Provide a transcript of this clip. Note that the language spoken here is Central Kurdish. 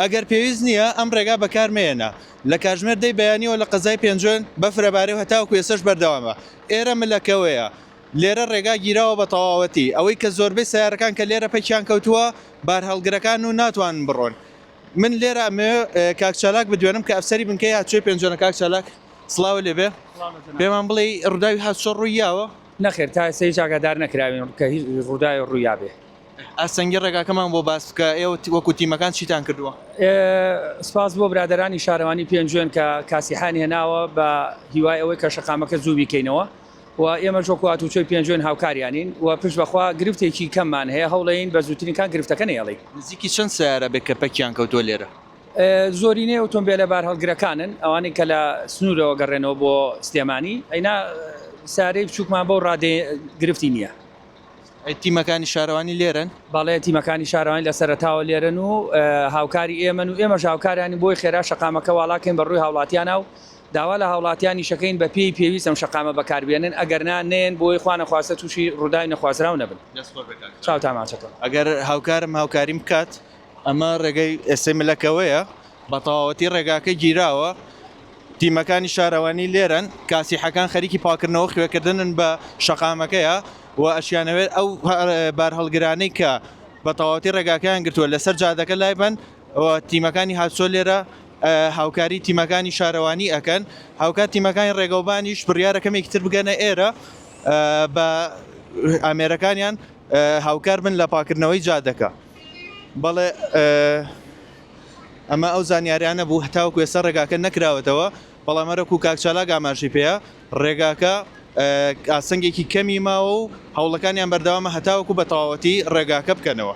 ئەگەر پێویست نییە ئەم ڕێگا بەکار مەیەنە. لە کاتژمێر دەی بەیانیەوە لە قەزای پێنجوێن بەفر ئەبارێ و هەتاوەکو ئێسەش بەردەوامە. ئێرە ملەکەوەیە. لێرە ڕێگا گیراوە بە تەواوەتی. ئەوەی کە زۆربەی سەیارەکان کە لێرە پەکیان کەوتووە بارهەڵگرەکان و ناتوانن بڕۆن. من لێرە ئەمەوێ کاک چالاک بدوێنم کە ئەفسەری بنکەی هاتشۆی پێنجوێنە. کاک چالاک سڵاوە لێ بێ. پێمان بڵێی ڕووداوی هاتشۆ ڕووی یاوە؟ نەخێر تا ئێستا هیچ ئاگادار نەکراوین کە هیچ ڕووداوێ ڕووی یابێ. ئاستەنگی ڕێگاکەمان بۆ باس بکە ئێوە وەکو تیمەکان چیتان کردووە؟ سپاس بۆ برادەرانی شارەوانی پێنجوێن کە کاسیحیان هێناوە بە هیوای ئەوەی کە شەقامەکە زوو بیکەینەوە و ئێمەش وەکو هاتوچۆی پێنجوێن هاوکاریانین و پشت بەخوا گرفتێکی کەممان هەیە هەوڵەیین بە زووترین کات گرفتەکە نەیەڵین. نزیکی چەند سەیارە بێ کەپەکیان کەوتووە لێرە؟ زۆرینەی ئۆتۆمبێلە بارهەڵگرەکانن ئەوانەی کە لە سنوورەوە گەڕێنەوە بۆ سلێمانی ئەینا سەیارەی بچووکمان بەو ڕادەیە گرفتی نییە. تیمەکانی شارەوانی لێرەن؟ بەڵێ تیمەکانی شارەوانی لە سەرەتاوە لێرەن و هاوکاری ئێمەن و ئێمەش هاوکاریانی بۆی خێرا شەقامەکە واڵاکەین بە ڕووی هاوڵاتیانە و داوا لە هاوڵاتیانی شەکەین بە پێی پێویست ئەم شەقامە بەکاربێنن ئەگەر نا نەیەن بۆی خوا نەخواستە تووشی ڕووداوی نەخوازراو نەبن. دەست خۆش بێ کاک خالید. چاوتان ماچەکەم. ئەگەر هاوکارم هاوکاریم بکات ئەمە ڕێگەی ئێستەی ملەکەوەیە بە تەواوەتی ڕێگاکە گیراوە تیمەکانی شارەوانی لێرەن کاسیحەکان خەریکی پاکردنەوە خوێکردنن بە شەقامەکەیە و ئەشیانەوێت ئەو بارهەڵگرانەی کە بە تەواوەتی ڕێگاکەیان گرتووە لەسەر جادەکە لای بن تیمەکانی هاتسۆ لێرە هاوکاری تیمەکانی شارەوانی ئەکەن هاوکات تیمەکانی ڕێگەوبانیش بڕیارە کەمێکی تر بگەنە ئێرە بە ئامێرەکانیان هاوکار بن لە پاکردنەوەی جادەکە بەڵێ ئەمە ئەو زانیاریانە بوو هەتاوەکو ئێستا ڕێگاکە نەکراوەتەوە بەڵام هەرەکو کاک چالاک ئاماژەی پێە ڕێگاکە ئاسنگێکی کەمی ماوە و هەوڵەکانیان بەردەوامە هەتاوەکو بە تەواوەتی ڕێگاکە بکەنەوە.